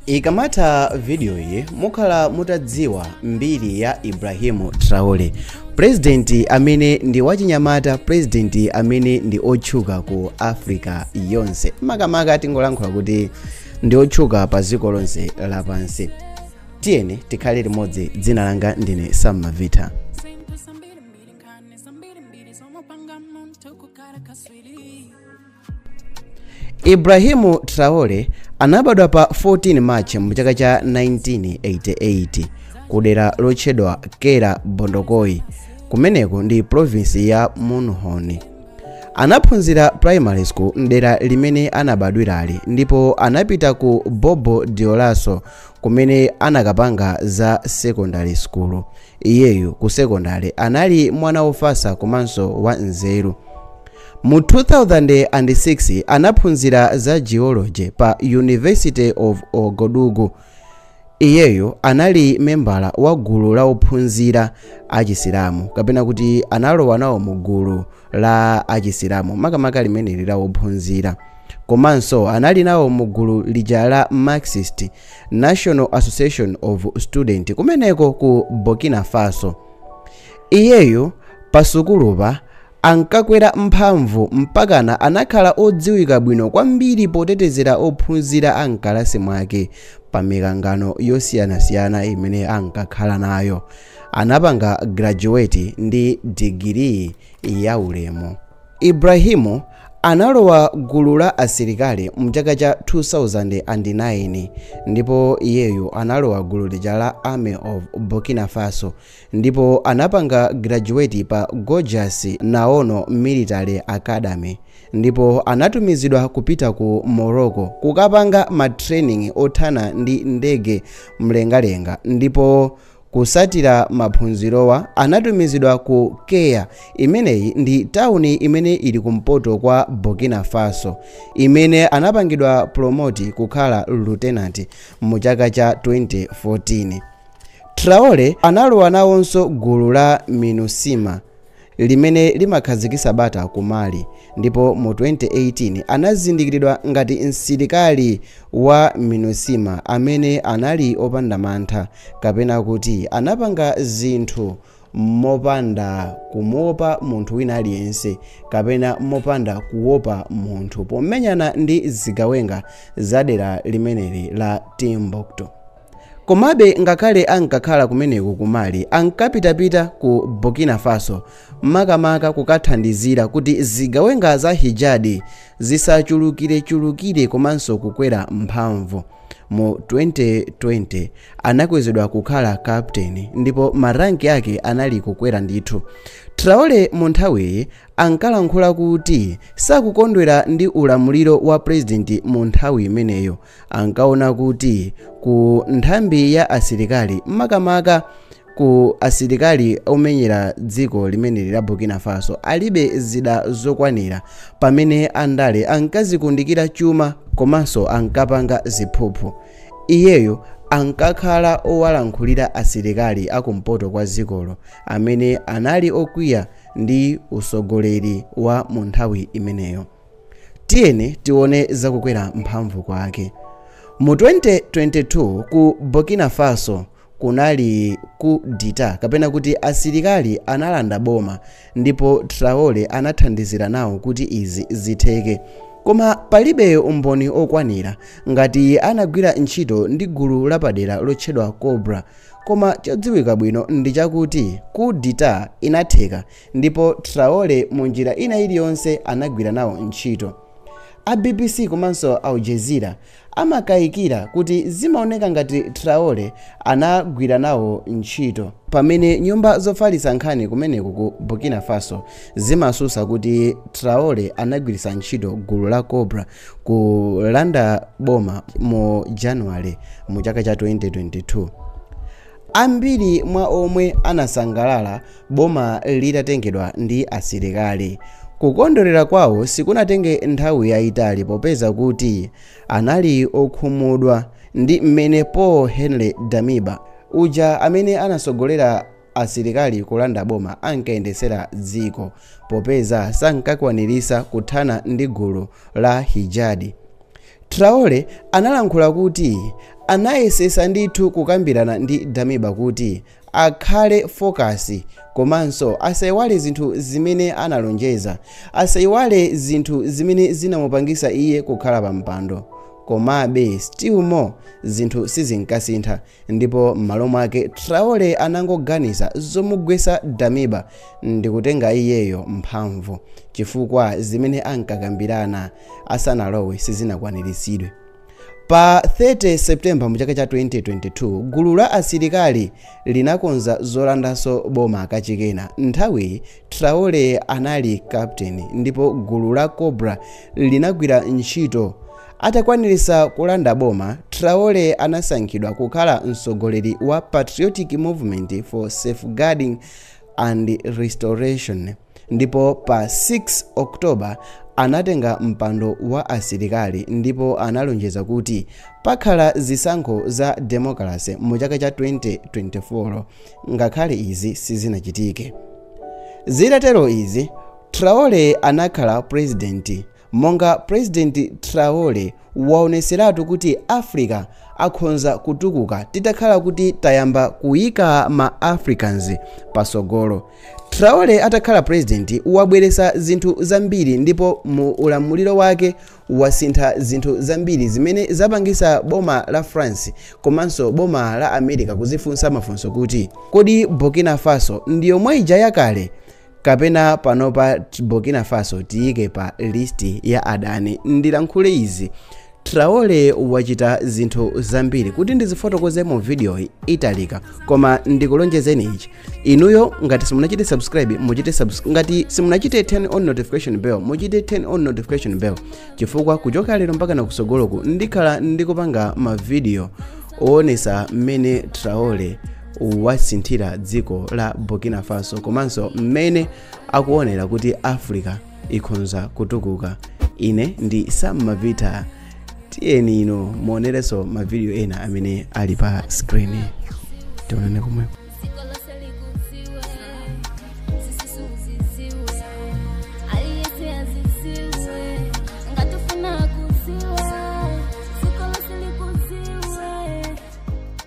ikamatha video iyi mukhala mutadziwa mbiri ya Ibrahim Traore purezidenti amene ndi wachinyamata purezidenti amene ndi otchuka ku africa yonse makamaka tingolankhula kuti ndi otchuka pa dziko lonse lapansi tiyeni tikhale limodzi dzina langa ndine Sam Mavita Ibrahim Traore anabadwa pa 14 March mu chaka cha 1988 ku dera lotchedwa Kera Bondokuy kumeneko ndi province ya Mouhoun. Anaphunzira primary school mdera limene anabadwirali ndipo anapita ku Bobo Dioulasso kumene anakapanga za secondary school. Iyeyu ku secondary anali mwana wofasa komanso wa nzeru. Mu 2006 anaphunzira za geology pa University of Ouagadougou. Iyeyo anali membala wa gulu la ophunzira achisilamu kapena kuti analowa nawo mu gulu la achisilamu makamaka limeneli la ophunzira komanso anali nawo mu gulu lija la marxist national association of students kumeneko ku burkina faso iyeyo pasukulupa ankakwera mphamvu mpakana anakhala odziwika bwino kwambiri potetezera ophunzira a m'kalasi mwake pa mikangano yosiyanasiyana imene ankakhala nayo. Anapanga graduate ndi digiri yaulemu. Ibrahim analowa gulu la asilikali mchaka cha 2009 ndipo iyeyu analowa gulu lija la Army of Burkina Faso ndipo anapanga graduate pa Georges Namoano Military Academy ndipo anatumizidwa kupita ku Morocco kukapanga ma training othana ndi ndege mlengalenga ndipo kutsatira maphunzirowa anatumizidwa ku Kaya imeneyi ndi tawuni imene ili kumpoto kwa Burkina Faso imene anapangidwa promote kukhala lieutenant mu chaka cha 2014 Traore analowa nawonso gulu la MINUSMA limene limakhazikitsa bata ku Mali ndipo mu 2018 anazindikiridwa ngati msilikali wa MINUSMA amene anali opanda mantha kapena kuti anapanga zinthu mopanda kumuopa munthu wina aliyense kapena mopanda kuopa munthu pomenyana ndi zigawenga za dera limeneli la Timbuktu. Komabe ngakhale ankakhala kumeneko ku Mali, ankapitapita ku Burkina Faso, makamaka kukathandizira kuti zigawenga za Hijadi zisachulukirechulukire komanso kukwera mphamvu. Mu 2020, anakwezedwa kukhala kaputeini ndipo maranki ake anali kukwera ndithu. Traore munthawiyi ankalankhula kuti sakukondwera ndi ulamuliro wa pulezidenti munthawi imeneyo. ankaona kuti ku nthambi ya asilikali makamaka ku asilikali omenyera dziko limeneli la burkina faso alibe zida zokwanira pamene andale ankazikundikira chuma komanso ankapanga ziphuphu iyeyo ankakhala owalankhulira asilikali akumpoto kwa dzikolo amene anali okwiya ndi usogoleri wa mu nthawi imeneyo Tiyeni tione za kukwera mphamvu kwake. Mu 2022 ku Burkina Faso kunali coup d'état kapena kuti asilikali analanda boma ndipo Traore anathandizira nawo kuti izi zitheke. Koma palibe umboni okwanira ngati anagwira ntchito ndi gulu lapadera lotchedwa Cobra. Koma chodziwika bwino ndi chakuti coup d'état inatheka Ndipo Traore mu njira ina iliyonse anagwira nawo ntchito. A BBC komanso Al Jazeera amakayikira kuti zimaoneka ngati Traore anagwira nawo ntchito. Pamene nyumba zofalitsa nkhani kumeneko ku Burkina Faso zimasusa kuti Traore anagwiritsa ntchito gulu la Cobra kulanda boma mu January mu chaka cha 2022. Ambiri mwa omwe anasangalala boma litatengedwa ndi asilikali, kukondwerera kwawo sikunatenge nthawi yaitali popeza kuti anali okhumudwa ndi mmene Paul Henri Damiba, uja amene anasogolera asilikali kulanda boma ankayendesera dziko popeza sankakwanirisa kuthana ndi gulu la Hijadi. Traore analankhula kuti anayesesa ndithu kukambirana ndi Damiba kuti akhale focus komanso asaiwale zinthu zimene analonjeza, asaiwale zinthu zimene zinamupangisa iye kukhala pa mpando komabe still more zinthu sizinkasintha ndipo m'malo mwake Traore anangoganiza zomugwesa Damiba ndikutenga iyeyo mphamvu chifukwa zimene ankakambirana asanalowe sizinakwaniritsidwe. Pa 30 September mu chaka cha 2022, gulu la asilikali linakonza zolandanso boma kachikenanso. Nthawiyi Traore anali captain ndipo gulu la Cobra linagwira ntchito. Atakwaniritsa kulanda boma, Traore anasankhidwa kukhala mtsogoleri wa Patriotic Movement for Safeguarding and Restoration. ndipo pa 6 october anatenga mpando wa asilikali ndipo analonjeza kuti pakhala zisankho za demokalasi mu chaka cha 2024 ngakhale izi sizinachitike zitatero izi traore anakhala purezidenti Monga President Traore waoneselatu kuti Africa akhonza kutukuka titakhala kuti tayamba kuika ma Africans pasogolo. Traore atakhala president wabwelesa zinthu zambiri ndipo mu ulamuliro wake wasintha zinthu zambiri zimene zapangisa boma la France komanso boma la America kuzifunsa mafunso kuti kodi Burkina Faso ndi yomwe ija yakale? kapena panopa t- burkina faso tiyike pa listi ya adani ndilankhule izi traore wachita zinthu zambiri kuti ndizifotokoze mu vidiyoyi italika koma ndikulonjezeni ichi inuyo ngati simunachite subscribe muchite subscribe ngati simunachite turn on notification bell muchite turn on notification bell chifukwa kuchoka lero mpaka na kusogoloku ndikhala ndikupanga mavidiyo owonesa mmene traore wasinthira dziko la burkina faso komanso mmene akuonera kuti africa ikhonza kutukuka ine ndi sam mavita tiyeni ino muonerenso mavidiyo ena amene ali pa skrini tionane komweko